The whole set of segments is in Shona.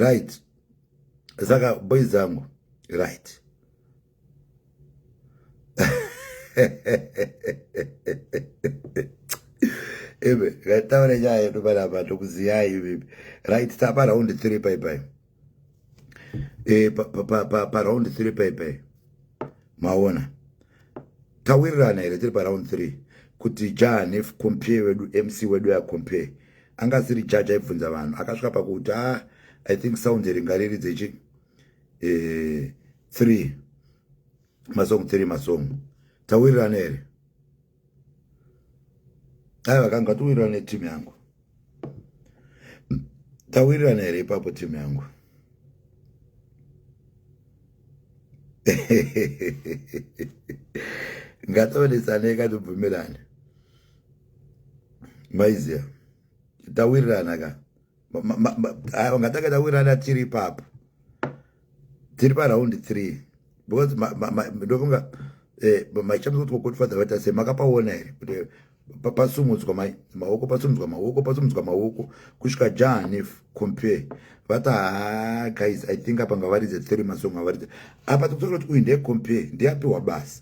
right saka boys zangu right ebe ngataure nyaya yedu panapa tokuziyai ivipi right tapa raundi three bye bye e, pa, pa, pa, pa, pa round three paipai maona tawirirana here tiri paround three kuti jahanef compare wedu mc wedu yacompare anga asiri jaji aibvunza vanhu akasvika pakuti a ah, i think sound ringariri dzechi eh, three masong three masong tawirirana here aiwa ka ngatiwirirana neteam yangu tawirirana here ipapo team yangu ngatovenesanei katibvumirane maiziya tawirirana ka aya vangatanga tawirana tiri ipapo tiri paraundi three because ndofunga eh, maichamisa kuti kokotifadza vaita se makapaona here kuti pasumudzwa mai maoko pasumudzwa maoko pasumudzwa maoko kusvika jahanif compare vati haa guys i think apa ngavaridze three masong avaridze apa tikutokuti uyu ndee compare ndiyapiwa basa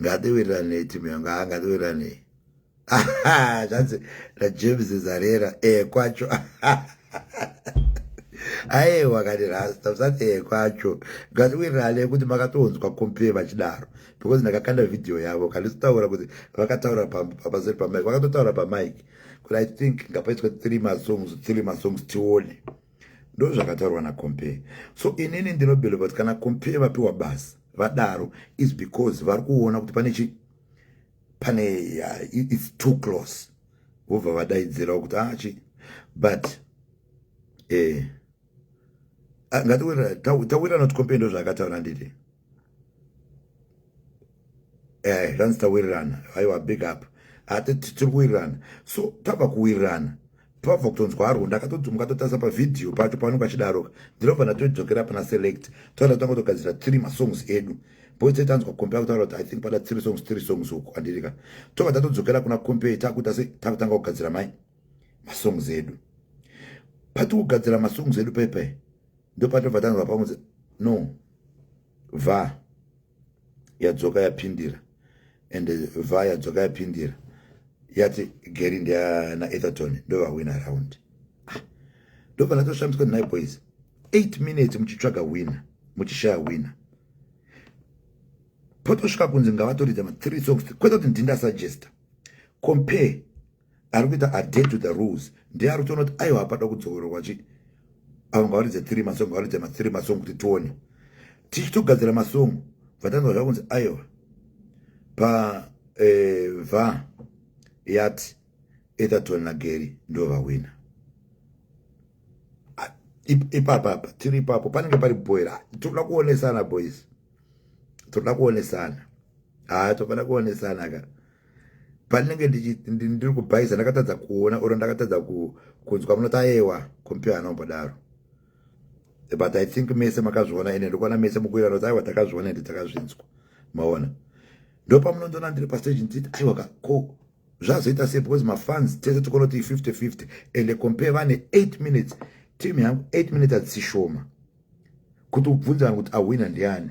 ngatiwirirane timu yangu haa ngatiwirirane zvanzi najames zarera e eh, kwacho aiwa kani rasta usati e eh, kwacho ngatiwirirane kuti makatonzwa compare vachidaro because ndakakanda vhidhiyo yavo kandisitaura kuti vakataura pamazeri pamike vakatotaura pamike kuti i think ngapaitwe three masongs three masongs tione ndozvakataurwa nacompare so inini ndinobeliva kuti kana compare vapiwa basa vadaro is because vari kuona kuti pane chi pane uh, its too close vobva vadaidzirawo kuti achi ah, but eh, ah, ngatiwira tawira not compare ndozvaakataura nditi eh zvanzi tawirirana aiwa big up ati tiri kuwirirana so tava kuwirirana pava kutonzwa arwo ndakatodzumuka totarisa pavhidhiyo pacho pavanenge vachidaroka ndinobva ndatodzokera pana select toenda tanga togadzira three masongs edu boise tanzwa kompe akutaura kuti i think pada three songs three songs uku andirika tobva tatodzokera kuna kompe takuita se takutanga kugadzira mai masongs edu pati kugadzira masongs edu paipai ndopatobva tanzwa pamwe no va yadzoka yapindira and va yadzoka yapindira yati gary ndiana etherton ndovawina round ah, ndobva ndatoshamiswa ndinai boys eight minutes muchitsvaga wina muchishaya wina potosvika kunzi ngavatoridza ma three songs kwete kuti ndinda suggesta compare ari kuita adhere to the rules ndiye ari kutoona kuti aiwa hapada kudzokorerwa chi avo ngavaridze three masong ngavaridze mathree masong kuti tione tichitogadzira masong vatanzwa zvava kunzi aiwa pa eh, va yati etherton nageri ndo vahwina ipapapa tiri ipapo panenge pari bhoira tinoda kuonesana boys tinoda kuonesana haa tofana kuonesana ka pandinenge ndiri kubhaiza ndakatadza kuona or ndakatadza kunzwa munoti ayewa kompiwa anombodaro but i think mese makazviona ende ndikuona mese mukuira noti aiwa takazviona ende takazvinzwa maona ndopamunondiona ndiri pastage nditi aiwa ka ko zvazoita sei because mafans tese tikonoti 50 50 ende compare vane 8 minutes team yangu 8 minutes adzisishoma kuti ubvunze vanhu kuti ahwina ndiani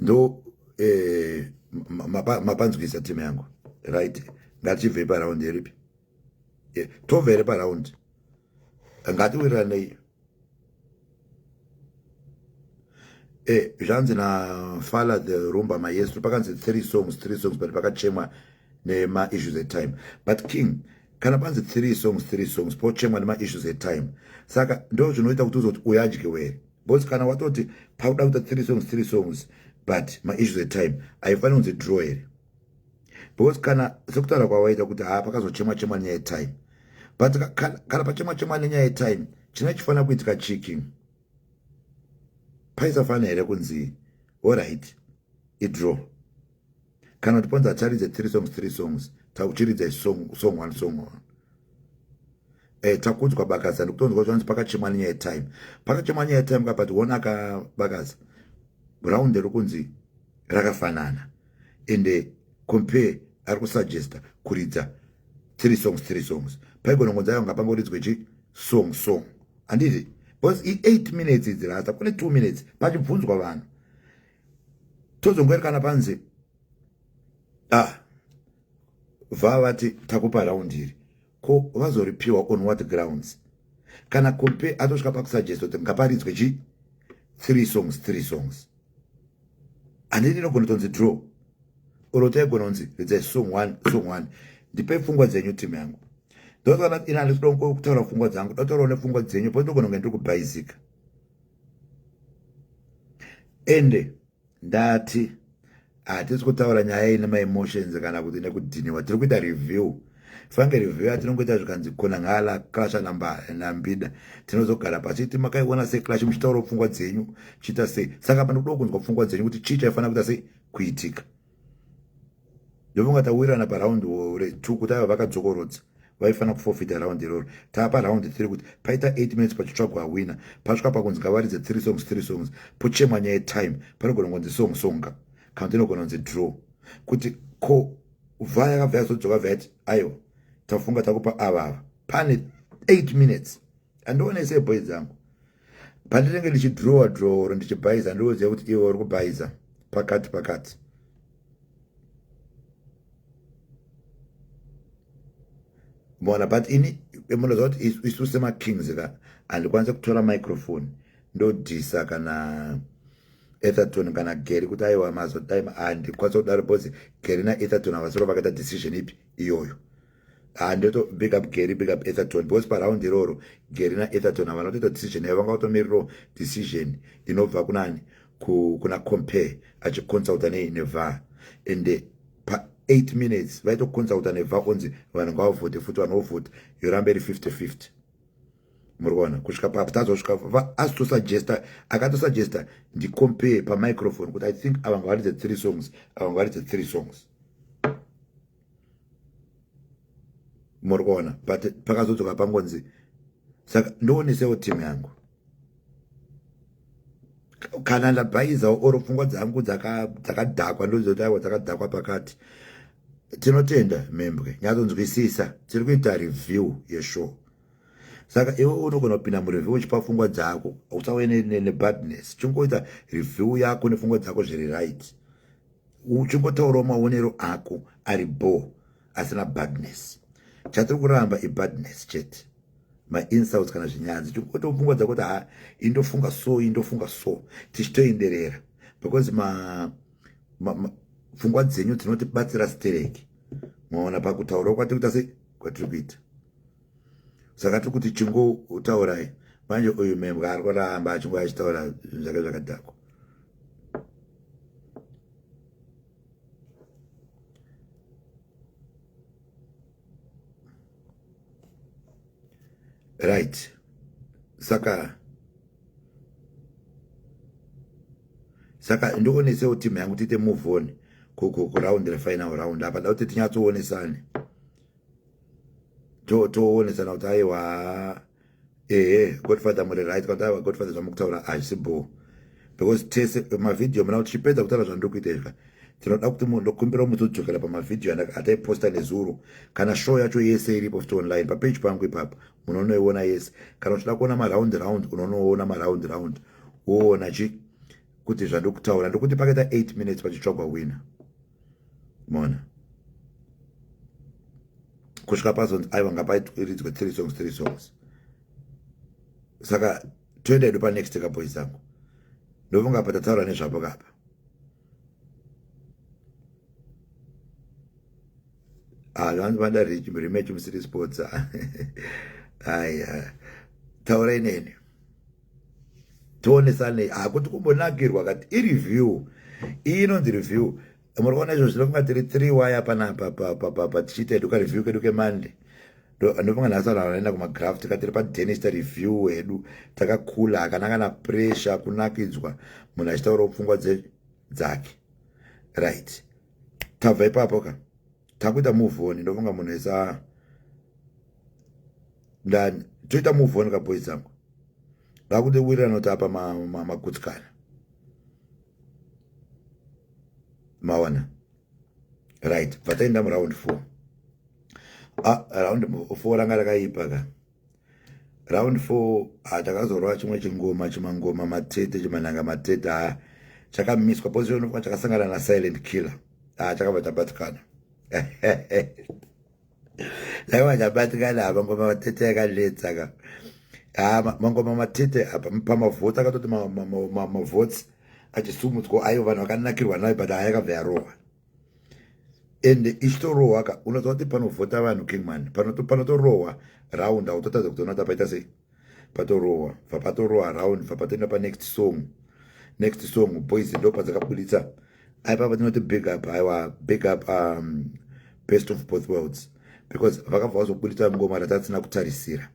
ndo eh, mapanzwisa mapa timu yangu right ngatichibvei paraundi iripi eh, tobva here paraundi ngatiwiriranei eh, zvanzi nafala the rumba maestro pakanzi three songs three songs but pakachemwa nemaissues etime but king kana panzi three songs three songs pochemwa nemaissues etime saka ndo zvinoita kuti uzoti uyadyiwere bcause kana watoti pakuda kuita three songs three songs but maissues etime haifaniri kunzi draw here because kana sekutaura kwawaita kuti haa pakazochema chema nenyaya yetime but kana pachema chema nenyaya yetime china chifanira kuitika chiki paisafanira here kunzi oright idraw kana kuti panzi hataridze three songs three songs takuchiridza song song one song one eh takudzwa bakaza ndikutonzwa zvanzi pakachemwa nyaya yetime pakachemwa nyaya yetime ka but one akabakaza round rokunzi rakafanana and eh, compare ari kusuggesta kuridza three songs three songs paigona ngonzi ayo ngapangoridzwe chi song song handiti because i-eight minutes idzi rasa kune two minutes pachibvunzwa vanhu tozongoerekana panze ah vava vati takupa round iri ko vazoripiwa on what grounds kana kompe atosvika pakusuggest kuti ngaparidzwe chi three songs three songs handini inogona tonzi draw oro taigona kunzi ridzai song one song one ndipei pfungwa dzenyu timu yangu ndotoona ina ndikuda kutaura pfungwa dzangu ndotourawo nepfungwa dzenyu po ndogona kunge ndiri kubhaizika ende ndati hatisi kutaura nyaya ine maemotions kana kuti nekudhiniwa tiri kuita review fange review yatinongoita zvikanzi kona ngala clasha nambida tinozogara pasi ti makaiona sei clasha muchitaura pfungwa dzenyu chiita sei saka panokuda kunzwa pfungwa dzenyu kuti chii chaifanira kuita sei kuitika ndofunga tawirana paraundi retu kuti ava vakadzokorodza vaifanira kufofita raundi iroro tapa raundi tiri kuti paita 8 minutes pachitsvagwa awina pasvika pakunzi ngavaridze three songs three songs pochemwa nyaya yetime panogona kunzi song songa kana kuti inogona kunzi draw kuti ko vha yakabva yazodzoka vati aiwa tafunga takupa ava ava pane 8 minutes andionese boy dzangu pandinenge ndichidhurowa dhurowa or ndichibhaiza ndinoziva kuti iwe uri kubhaiza pakati pakati mona but ini munoziva kuti isu semakings ka handikwanise kutora microphone ndodhisa kana etherton kana gary kuti aiwa mazotime handikwanise kudaro because gary naetherton havasoro vakaita decision ipi iyoyo Ah, ndoto big up gary big up etherton because paraundi iroro gary naetherton havana kutoita decision yavo vanga vatomiriro decision inobva kunani kuna compare achiconsulta nei neva and pa 8 minutes vaitoconsulta neva onzi vanhu ngavavhote futi vanhu vovhota yoramba iri 50 50 muri kuona kusvika papo tazosvika asitosuggesta akatosuggesta ndicompare pamicrophone kuti i think ava ngawaridze three songs ava ngawaridze three songs muri kuona but pakazodzoka pangonzi saka ndoonesewo team yangu kana ndabhaizawo or pfungwa dzangu dzakadhakwa ndozoti aiwa dzakadhakwa pakati tinotenda mhembwe nyatsonzwisisa tiri kuita review yeshow saka iwe unogona kupinda mureview uchipa pfungwa dzako usauye nebadness chingoita review yako nepfungwa dzako zviri right uchingotaurawo maonero ako ari bho asina badness chatiri kuramba ibadness chete mainsults kana zvinyanzi tikutofunga dza kuti ha indofunga so indofunga so tichitoenderera because ma, ma, ma pfungwa dzenyu dzinotibatsira stereki maona pakutaurawo kwatiri kuita sei kwatiri kuita saka tiri kuti chingotaurai manje uyu membwa ari kuramba achingo achitaura zvinhu zvake zvakadhakwa right saka saka ndionesewo timu yangu tiite move on kuraundira final round apa da kuti tinyatsoonesane toonesana kuti aiwa ehe godfather muri right kuti aiwa godfather zvamukutaura hazvisi bhoo because tese mavhidhiyo muna kuti chipedza kutaura zvandiri kuita izvika tinoda kuti munhu ndokumbira kuti mutodzokera pamavhidhiyo ataiposta nezuro kana show yacho yese iripo futi online papeji pangu ipapo munonoiona yese kana uchida kuona maround round unonoona maround round woona chi kuti zvandiri kutaura ndokuti pakaita 8 minutes pachitsvagwa winner mona kusvika pazonzi aiwa ngapairidzwe three songs three songs saka toenda edu panext kaboyi zangu ndofunga pa tataura nezvapo kapa ah, vanzi vada rematch musiri sports aya taurai neni tionesanei hakuti kumbonakirwa kati ireview iyi inonzi review muri kuona izvo zvinokunga tiri three waya panapa tichiita hedu kareview kedu kemonday ndopanga nhasi vanhu vanoenda kumagraf tika tiri padenis tareview hedu takakula hakana kana pressure kunakidzwa munhu achitaurawo pfungwa dzake right tabva ipapo ka takuita move on ndofunga munhu esa ndani toita move on kaboys dzangu vakude wirirana kuti apa magutsikana ma, ma maona right pataenda muround four ah, round four ranga rakaipa ka round four ah, takazorova chimwe chingoma chimangoma matete chimananga matete aya ah, chakamiswa position chakasangana na silent killer ah, chakabva tabatikana aiwa ndabatikana apa ngoma matete yakanetsa ka ah, mangoma matete apa pamavhoti akatoti mavhoti achisumudzwa aiwa vanhu vakanakirwa nayo but ayakabva yarohwa ende ichitorohwa ka unoziva kuti panovhota vanhu kingman panotorohwa raund autotadza kutoona kuti apaita sei patorohwa bva patorohwa around bva patoenda panext song next song boys ndo padzakabuditsa aipa patinoti big up aiwa big up um, best of both worlds because vakabva vazobuditsa ngoma ratatsina kutarisira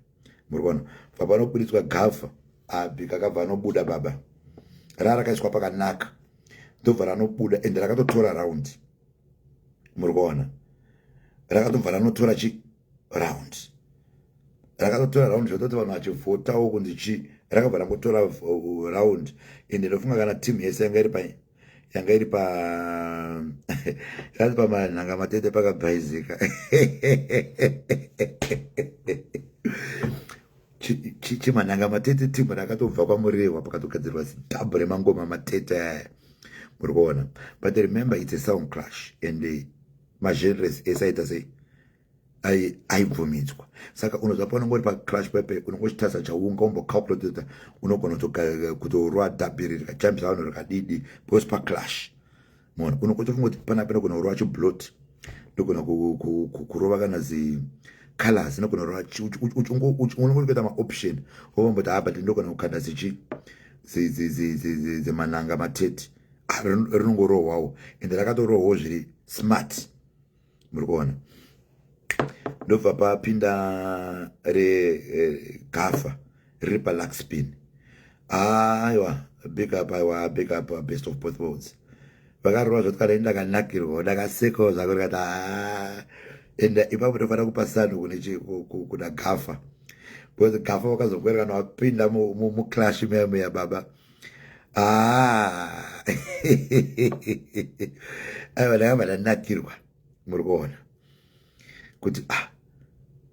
muri kuona bva panobuditswa gafa abi kakabva anobuda baba raa rakaiswa pakanaka ndobva ranobuda ende rakatotora raundi muri kuona rakatobva ranotora chi round rakatotora round zvototi vanhu vachivhotawo kunzi chii rakabva rangotora uh, round ende ndofunga kana team yese yanga iri pai yanga iri pa yati pamanhanga matete pakabhaizika chimanhanga matete team rakatobva kwamurehwa pakatogadzirwa zidhabhu remangoma matete aya muri kuona but remember its a sound clash and uh, magenres ese aita sei aibvumidzwa saka unoziva paunenge uri paclash pepe unenge uchitasa chaunga umbocalculator unogona kutorwa dhabhiri rikajambisa vanhu rikadidi because paclash mona unenge uchifunga kuti pana pene kugona kurova chiblot ndogona kurova kana zicolors inogona kurova unenge uchikuita maoption ovomboti ha but ndogona kukanda zichi zimananga matete rinongorohwawo ende rakatorohwawo zviri smart muri kuona ndobva papinda regafa eh, riri paluxpin aiwa big up aiwa big up uh, best of both worlds vakarova zvoti kana ini ndakanakirwa ndakasekawo zvako ndikati ah. ende ipapo tofanira kupa sando kuna gafa because gafa wakazokwerekana wapinda muclash meya meya baba Ah. aiwa ndanga vandanakirwa muri kuona kuti ah,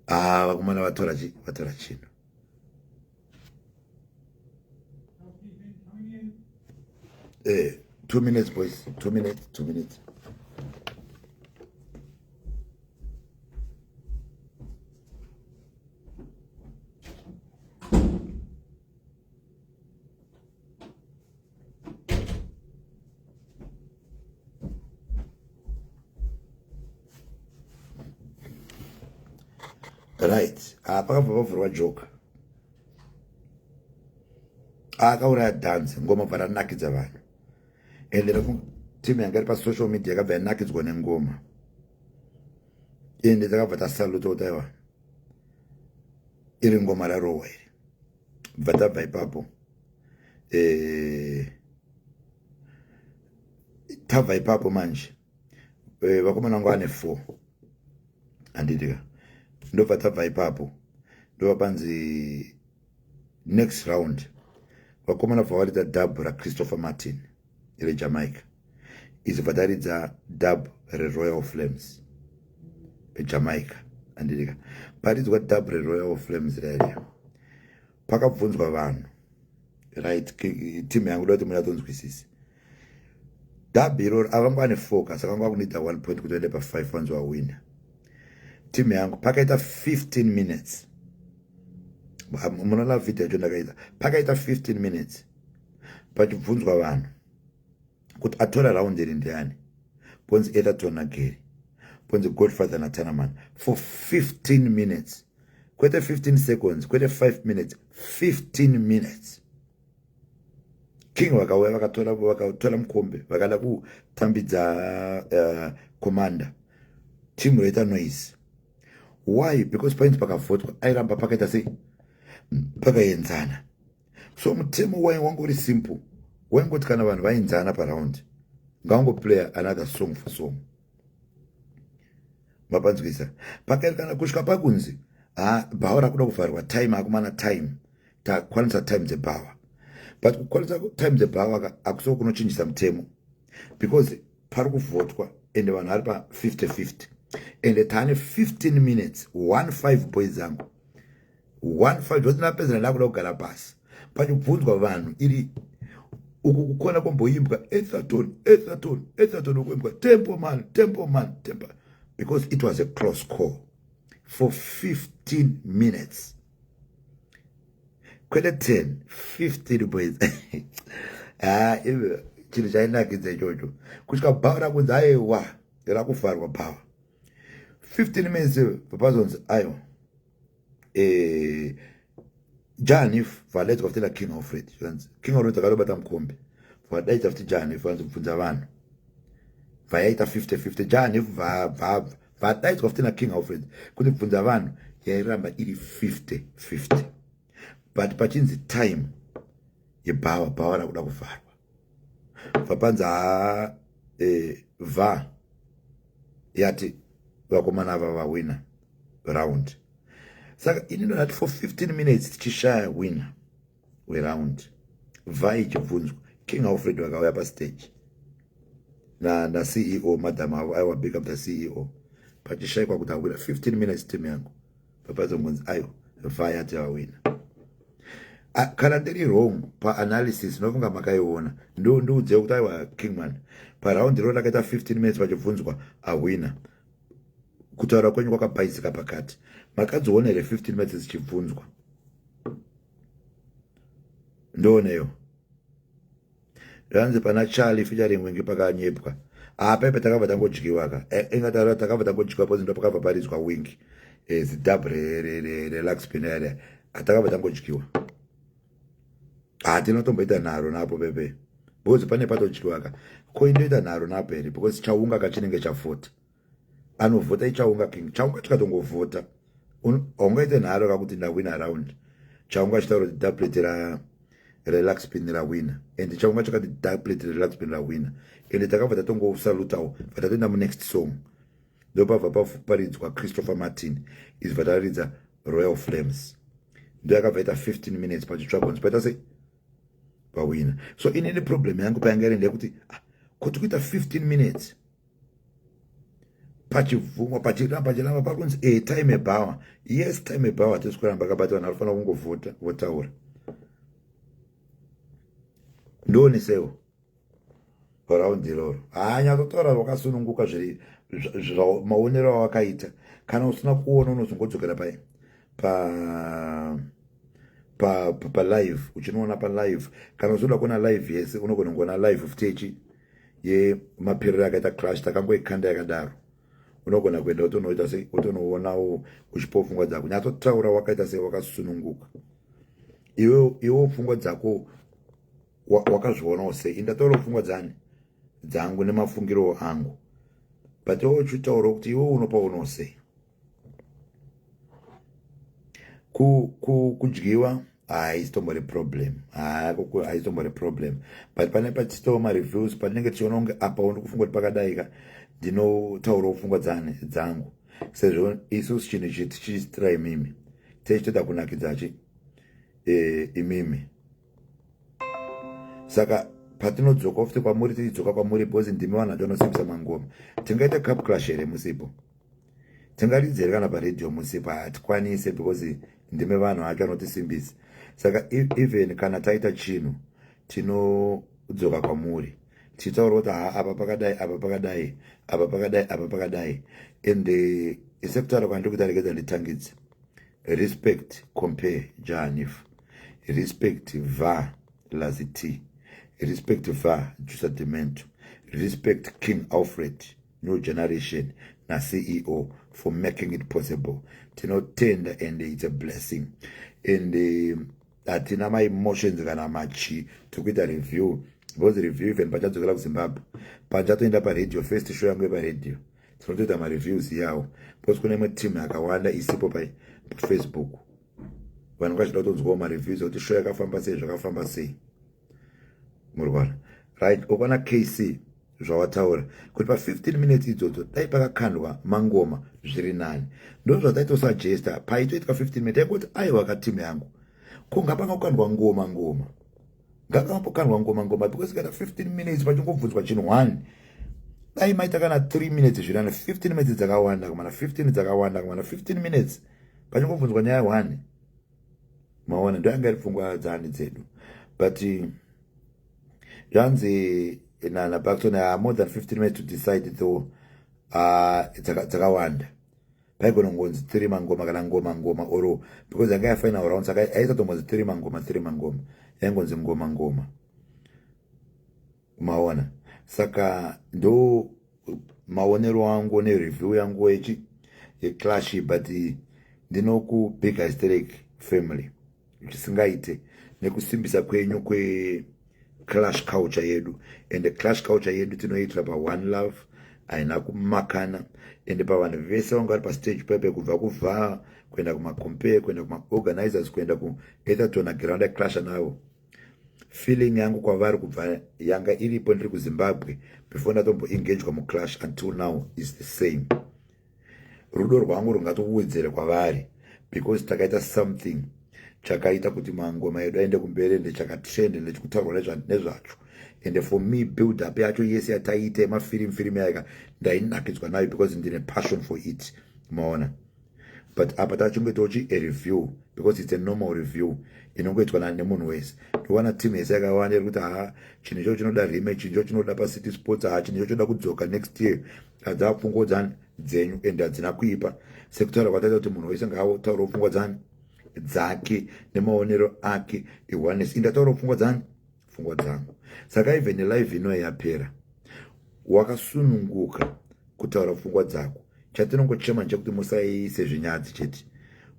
ah, vakomana vatora chi vatora chino eh, two minutes boys two minutes two minutes right ah, pakabva pavhurwa joka ah, akauraya dhanzi ngoma bva ranakidza vanhu ende team yanga iri pasocial media yakabva yanakidzwa nengoma ende takabva tasaluta kutaiwa iri ngoma rarowa iri bva tabva ipapo eh, tabva ipapo manje eh, vakomana vangu ane four handitika ndobva tabva ipapo ndova panzi next round vakomana bva varita dhabhu rachristopher martin rejamaica izibva taridza dub reroyal flames ejamaica andirika paridzwa dub reroyal flames rairia pakabvunzwa vanhu right team yangu da kuti munatonzwisisi dub iroro avanga ane foka saka vanga vakunoita one point kuti vaende pafive vanzi wawina team yangu pakaita 15 minutes munona vhidhi yacho ndakaita pakaita 15 minutes pachibvunzwa vanhu kuti atora raundi iri ndiani ponzi etherton nageri ponzi godfather natanaman for 15 minutes kwete 15 seconds kwete 5 minutes 15 minutes king vakauya vakatora vakatora mukombe vakada kutambidza uh, commander team roita noise why because painzi pakavhotwa airamba pakaita sei pakaenzana so mutemo wainge wange uri simple waingoti kana vanhu vainzana paraundi ngawangoplayer another song for song mapanzwisa pakaerekana kusvika pakunzi ha bhawa rakuda kuvharwa time akumana time takwanisa time dzebhawa but kukwanisa time dzebhawa ka akusiwo kunochinjisa mutemo because pari kuvhotwa ende vanhu vari pa 50 50 ende taane 15 minutes 15 boys angu one five zvose napedza ndakuda kugara pasi pachibvunzwa vanhu iri uku kukona kwomboimbwa etherton etherton etherton ukuimbwa temple man temple man temple because it was a close call for 15 minutes kwete 10 15 boys ah iwe chinhu chainakidza ichocho kusvika bhawa rakunzi aiwa rakufarwa bhawa 15 minutes vapazonzi aiwa eh, jahanif valedzwa futi naking alfred zvanzi king alfred akatobata mukombe vadaidza futi jahanif vanzi kubvunza vanhu vayaita 50 50 jahanif vadaidzwa futi naking alfred kuti bvunza vanhu yairamba iri 50 50 but pachinzi time yebhawa bhawa rakuda kuvharwa vapanza haa e, va yati vakomana ava vawina round saka ini ndonati for 15 minutes tichishaya wina weround va ichibvunzwa king alfred vakauya pastage naceo na e madam avo aiwa big up the ceo pachishaikwa kuti awina 15 minutes team yangu papazombonzi ayo vaya tiawina ah, kana ndiri wrong paanalysis inofunga makaiona ndiudze kuti aiwa kingman paraundi roo rakaita 15 minutes vachibvunzwa ahwina kutaura kwenyu kwakabhaizika pakati makadziona here 15 minutes dzichibvunzwa ndooneyo zvanzi pana charlie featuring wingi pakanyepwa apa ah, ipe takabva tangodyiwa ka eh, ingataura takabva tangodyiwa pozi ndo pakabva paridzwa wingi eh, zidab relaxpin area ah, takabva tangodyiwa hatinotomboita ah, nharo napo pepe because pane patodyiwa ka ko indoita nharo napo here because chaunga kachinenge chafota anovhota ichaunga king chaunga tikatongovhota haungaite nharo kakuti ndawina around chaunga chitaura kuti daplate ra relax pin rawina and chaunga chakati daplate relax pin rawina and takabva tatongosalutawo bva tatoenda munext song ndopabva paridzwa christopher martin izvi bva tararidza royal flames ndo yakabva ita 15 minutes pachitsvagons paita sei pawina so inini problem yangu payanga iri ndeyekuti ah, kuti kuita 15 minutes pachibvumwa pachiramba pachiramba pakunzi e eh, time bower yes time bower hatisi kuramba kabati vanhu vanofanira kungovhota votaura ndionesewo raundi iroro haanyatsotaura vakasununguka zviri maonero awakaita kana usina kuona unozongodzokera pa pa pa pa live uchinoona pa live kana uzoda kuona live yese unogona kuona live futi echi yemaperero yakaita crash takangoikanda yakadaro unogona kuenda wotonoita sei wotonoonawo uchipo pfungwa dzako nyatsotaura wakaita sei wakasununguka iwe iwo pfungwa dzako wakazvionawo sei indataura pfungwa dzani dzangu nemafungiro angu but iwe uchitaurawo kuti iwe unopaunawo sei kudyiwa ku, ku haisitombori ah, problem haisitombori ah, problem but pane patitowa mareviews patinenge tichiona kunge apa undi kufunga kuti pakadaika ndinotaurawo pfungwa dzani dzangu sezvo isusu chinhu ichi tichiitira imimi tichitoda kunakidzachi e, imimi saka patinodzoka futi kwamuri tichidzoka kwamuri bhozi ndimi vanhu vatonosimbisa mangoma tingaita cup clash here musipo tingaridze here kana paradio musi pa hatikwanise because ndime vanhu ake anotisimbisa saka even kana taita chinhu tinodzoka kwamuri tichitaura kuti ha apa pakadai apa pakadai apa pakadai apa pakadai and eh, sekutaura kwandiri kuti aregedza nditangidze respect compare jahanif respect va lazit respect va jusa demento respect king alfred New Generation naCEO for making it possible. Tinotenda and it's a blessing. And eh, hatina um, maemotions kana machi tokuita review because review even pachadzokera kuzimbabwe pachatoenda paradio first show yangu yeparadio tinotoita mareviews yawo because kune imwe team yakawanda isipo pafacebook vanhu vachida kutonzwawo mareviews ekuti show yakafamba sei zvakafamba sei murikuona right okwana kc zvawataura kuti pa15 minutes idzodzo dai pakakandwa mangoma zviri nani ndozvataitosajesta paitoitwa 15 minutes taingoti aiwa katim yangu ko ngapanga kukandwa ngoma ngoma ngakamapokandwa ngoma ngoma because kana 15 minutes pachingobvunzwa chinhu one dai maita kana 3 minutes zviri nani 15 minutes dzakawanda kumana 15 dzakawanda kumana 15 minutes pachingobvunzwa nyaya one maona ndoyanga iri pfungwa dzani dzedu but zvanzi nana bakton ah, more than 15 minutes to decide though ah, dzakawanda paigona kungonzi three mangoma kana ngoma ngoma or because yanga yafaina round saka aisatongonzi three mangoma three mangoma yaingonzi ngoma ngoma maona saka ndo maonero angu nereview yangu yechi yeclash but ndinokubig hysteric family zvisingaite nekusimbisa kwenyu kweclash culture yedu and clash culture yedu tinoitira paone love haina kumakana ende pavanhu vese vanga vari pastage pepe kubva kuvhaa kuenda kumacompare kuenda kumaorganizers kuenda kuetherton agiranda clasha navo feeling yangu kwavari kubva yanga iripo ndiri kuzimbabwe before ndatombo engagwa muclash until now is the same rudo rwangu rungatokuwedzere kwavari because takaita something chakaita kuti mangoma edu aende kumberi ende chakatrend ende chikutaurwa nezvacho ende for me build up yacho yese yataiita yemafirim firim yaika ndainakidzwa nayo because ndine passion for it maona but apa tachingoitawo chi a review because it's a normal review inongoitwa nani nemunhu wese ndowana team yese yakawanda iri kuti haa chinhu ichocho chinoda rime chinhu ichocho chinoda pacity sports haa chinhu ichocho choda kudzoka next year hadzava pfungwa dzani dzenyu and hadzina kuipa sekutaura kwataita kuti munhu wese ngaataurawo pfungwa dzani dzake nemaonero ake iwanesi indataurawo pfungwa dzani pfungwa dzangu saka even live ino yapera wakasununguka kutaura pfungwa dzako chatinongochema nchekuti musaise zvinyadzi chete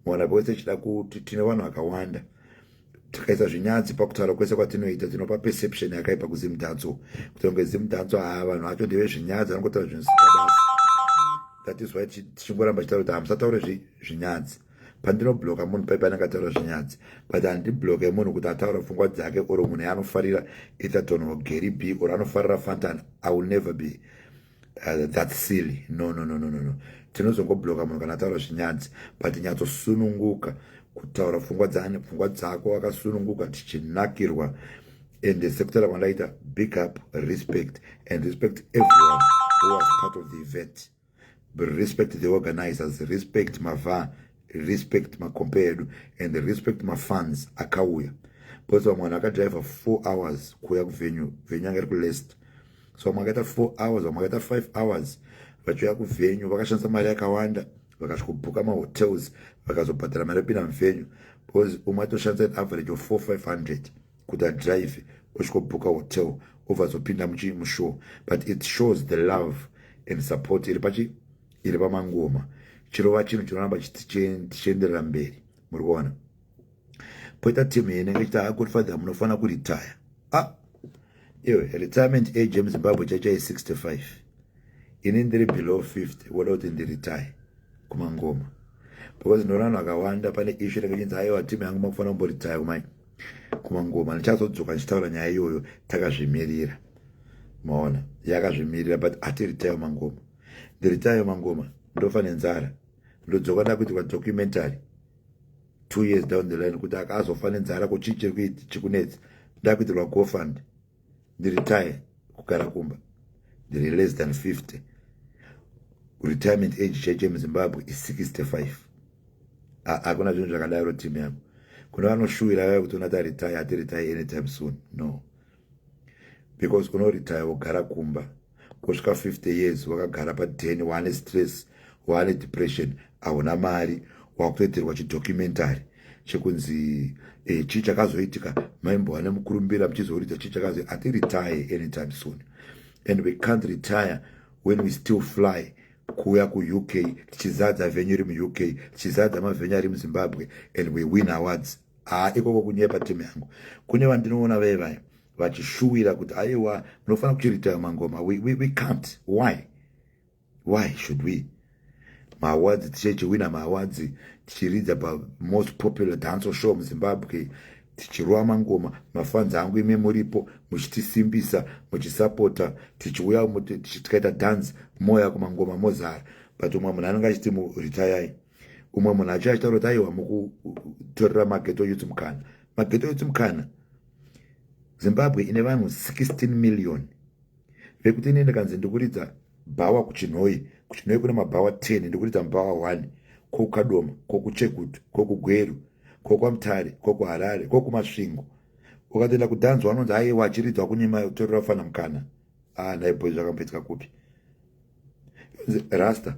mwana pawese chida kuti tine vanhu vakawanda tikaisa zvinyadzi pakutaura kwese kwatinoita tinopa perception yakaipa kuzimdanso kuti kunge zimdanso haa vanhu vacho ndeve zvinyadzi vanongotaura zvinhu zvisikabasi that is why tichingoramba chitaura kuti hamusataure zvinyadzi pandinobloka munhu paipa anenge ataura zvinyadzi but handibloke munhu kuti ataura pfungwa dzake or munhu yaanofarira etherton or gary b or anofarira fantan i will never be uh, that silly no no no no no no tinozongobloka munhu kana ataura zvinyadzi but nyatsosununguka kutaura pfungwa dzani pfungwa dzako wakasununguka tichinakirwa and sekutaura kwandaita big up respect and respect everyone who was part of the event respect the organizers respect mava respect makompe edu and respect mafans akauya because vamwe vanhu vakadriver four hours kuuya kuvenue venue anga iri kulest so vamwe vakaita four hours vamwe vakaita five hours vachiuya kuvenue vakashandisa mari yakawanda vakasvikobhuka mahotels vakazobhadhara mari yopinda muvenue because umwe atoshandisa an average of four five hundred kuti adrive osvikobhuka hotel obva azopinda muchii mushow but it shows the love and support iri pachi iri pamangoma chirova chinhu chinoramba tichienderera mberi muri kuona poita timu yene ichiti ha good father munofanira kuritaya a ah, iwe retirement age yemuzimbabwe chaichai 65 ini ndiri below 50 woda kuti ndiritaye kumangoma because ndinoona vanhu vakawanda pane ishu rekachinzi aiwa timu yangu makufanira kumboritaya kumai kumangoma ndichazodzoka ndichitaura nyaya iyoyo takazvimirira maona yakazvimirira but ati ritayo mangoma ndiritayo mangoma ndofa nenzara ndodzoka ndakuitikwa documentary two years down the line kuti akazofa nenzara kuchii chiri kuiti chikunetsi ndakuitirwa gofund ndiretire kugara kumba ndiri less than 50 retirement age chaicho yemuzimbabwe is 65 hakuna zvinhu zvakadaro team yangu kune vanoshuwira vaya kuti unati aretire ati retire anytime soon no because unoretire wogara kumba kusvika 50 years wakagara paden waane stress waane depression ahuna mari wakutoitirwa chidocumentary chekunzi eh, chii chakazoitika maimbova nemukurumbira muchizoridza chii chakazoi ati retire anytime soon and we can't retire when we still fly kuuya kuuk tichizadza venyu iri muuk tichizadza mavenyu ari muzimbabwe and we win awards haa ikoko kunyepa timu yangu kune vandinoona vee vaye vachishuwira kuti aiwa munofanira kuchiritaya mangoma we, we, we can't why why should we maawards tichechiwina maawards tichiridza pamost popular danco show muzimbabwe tichirova mangoma mafanzi angu imi muripo muchitisimbisa muchisapota tichiuya tikaita dance moya kumangoma mozara but umwe munhu anenge achiti muritayai umwe munhu achiya achitaura kuti aiwa mukutorera mageto youth mukana mageto youth mukana zimbabwe ine vanhu 16 million vekuti ini ndikanzi ndikuridza bhawa kuchinhoi kuchinhoi kune mabhawa 10 ndikuridza mubhawa 1 kokukadoma kokuchekutu kokugweru kokwamutare kokuharare kokumasvingo ukatoenda kudanzwa anonzi aiwa achiridzwa kunyima torera kufana mukana ah dai boy zvakamboitika kupi rasta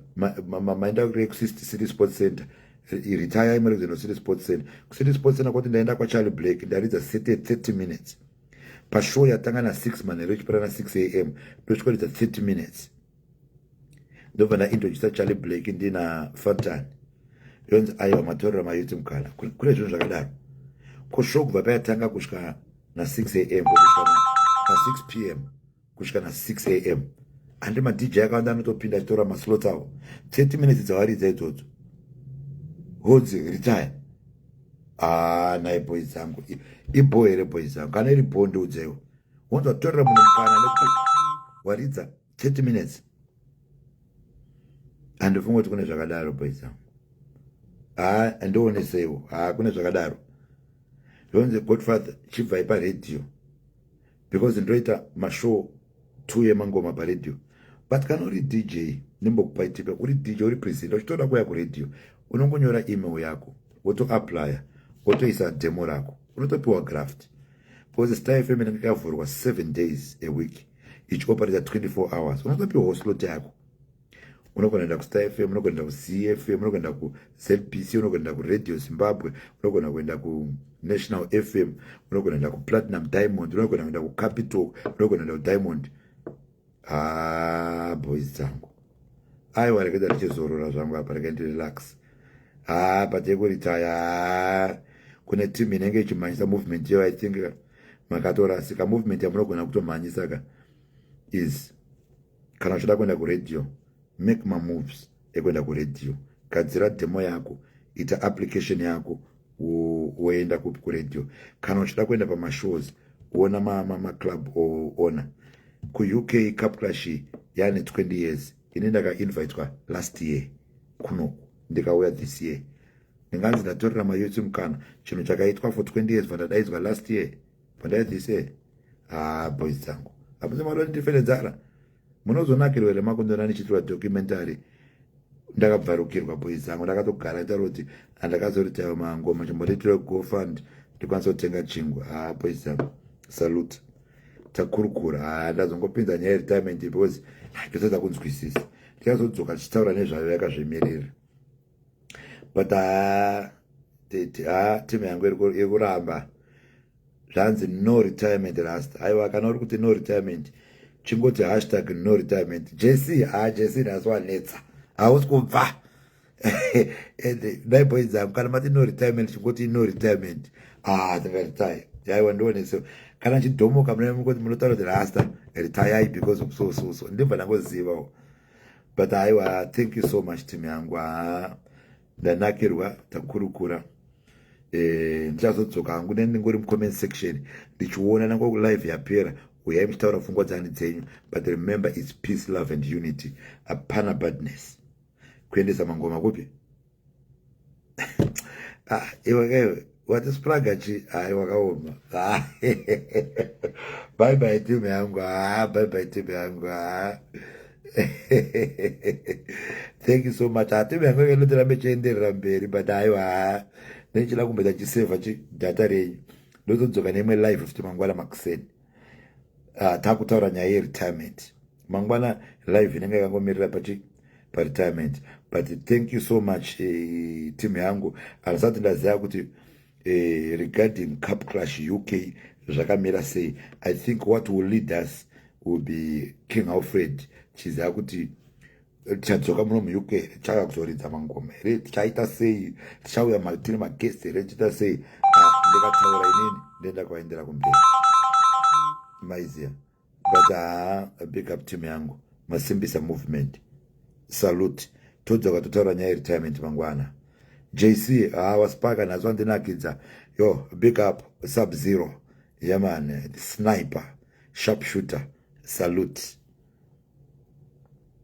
maenda kure kusisti city sports center retire imari zeno city sports center kucity sports center kwati ndaenda kwacharlie black ndaridza sete 30 minutes pashow yatanga na6 manhero ichipera na6 am ndochikoridza 30 minutes ndobva ndaintroducer charlie black ndina fantan yonzi aiwa matorera mayuti mukana kune zvinhu zvakadaro ko sho kubva payatanga kusvika na6 am na6 p m kusvika na6 a m handi madj akawanda anotopinda achitora maslots avo 30 minutes dzawaridza idzodzo honzi retire haa nai boi dzangu ibho here boi dzangu kana iri bho ndiudzeiwo wonzi watorera munhu mukana nekuti waridza 30 minutes andifunga kuti kune zvakadaro boys angu haa andioneseiwo haa kune zvakadaro zvonzi godfather chibvai paradio because ndoita mashow two yemangoma paradio but kana uri dj ndimbokupai tipe uri dj uri presenta uchitoda kuya kuradio unongonyora email yako wotoaplya wotoisa demo rako unotopiwa graft because star fm inenge ikavhurwa seven days a week ichioperata 24 hours unotopiwawo slot yako unogonaenda kustar fm unogonaenda kucfm unogonaenda kuzbc unogonaenda kuradio zimbabwe unogona kuenda kunational fm unogonaenda kuplatinum diamond unogona kuenda kucapital unogona kuenda kudiamond haa boys dzangu aiwa rekaita richizorora zvangu apa rekaiti relax haa patekurita yaa kune team inenge ichimhanyisa movement iyo i think makatorasika movement yamunogona kutomhanyisa ka is kana uchichida kuenda kuradio make mamoves ekuenda kuradio gadzira demo yako ita application yako woenda kupi kuradio kana uchida kuenda pamashows wona maclub owona kuuk cup clash yaane 20 years ini ndakainvitwa last year kunoku ndikauya this year ndinganzi ndatorera mayouth mukana chinhu chakaitwa for 20 years vandadaidzwa last year pandai this year haa boys dzangu hapunzi mari ndifele dzara munozonakirwa here makundona ndichitirwa documentary ndakabvarukirwa boys dzangu ndakatogara nditaura kuti andakazoritawa mangoma chimbotitirwa gofund ndikwanisa kutenga chingwa haa boys dzangu salute takurukura haa ndazongopinza nyaya yeretirement because ndotadza kunzwisisa ndikazodzoka tichitaura nezvayo yakazvimirira but haa tete haa timu yangu iri kuramba zvanzi no retirement rasta haiwa kana uri kuti no retirement chingoti hashtag no retirement jc haa jc nhasi wanetsa hausi kubva and dai boy dzangu kana mati no retirement chingoti no retirement haa ndingaretire haiwa ndione so kana chidhomoka muna mukoti munotaura kuti rasta retire because of so so so ndibva ndangozivawo but aiwa thank you so much team yangu haa ndanakirwa takurukura eh, ndichazodzoka hangu neni ndingori mucomment section ndichiona nango live yapera uyai muchitaura pfungwa dzani dzenyu but remember its peace love and unity hapana badness kuendesa mangoma kupi ah, iwe kaiwe wati spraga chi hai wakaoma ah, bye bye team yangu ah, bye bye team yangu ah. thank you so much ah, team yangu inotirambe chienderera mberi but aiwa ah, nechida kumboita chiseva chidata renyu ndozodzoka neimwe live futi mangwana makuseni uh, takutaura nyaya yeretirement mangwana live inenge yakangomirira pachi paretirement but thank you so much eh, team yangu andisati ndaziva kuti eh, regarding cup crush uk zvakamira sei i think what will lead us will be king alfred chiziva kuti tichadzoka muno muuk here tichauya kuzoridza mangoma here tichaita sei tichauya tiri magest here tichaita sei ah, ndikataura inini ndoenda kwaendera kumberi maiziya but haa ah, big up team yangu masimbisa movement salute todzoka totaura nyaya yeretirement mangwana jc haa ah, waspaka nhasi wandinakidza yo big up sub zero yaman sniper sharp shooter salute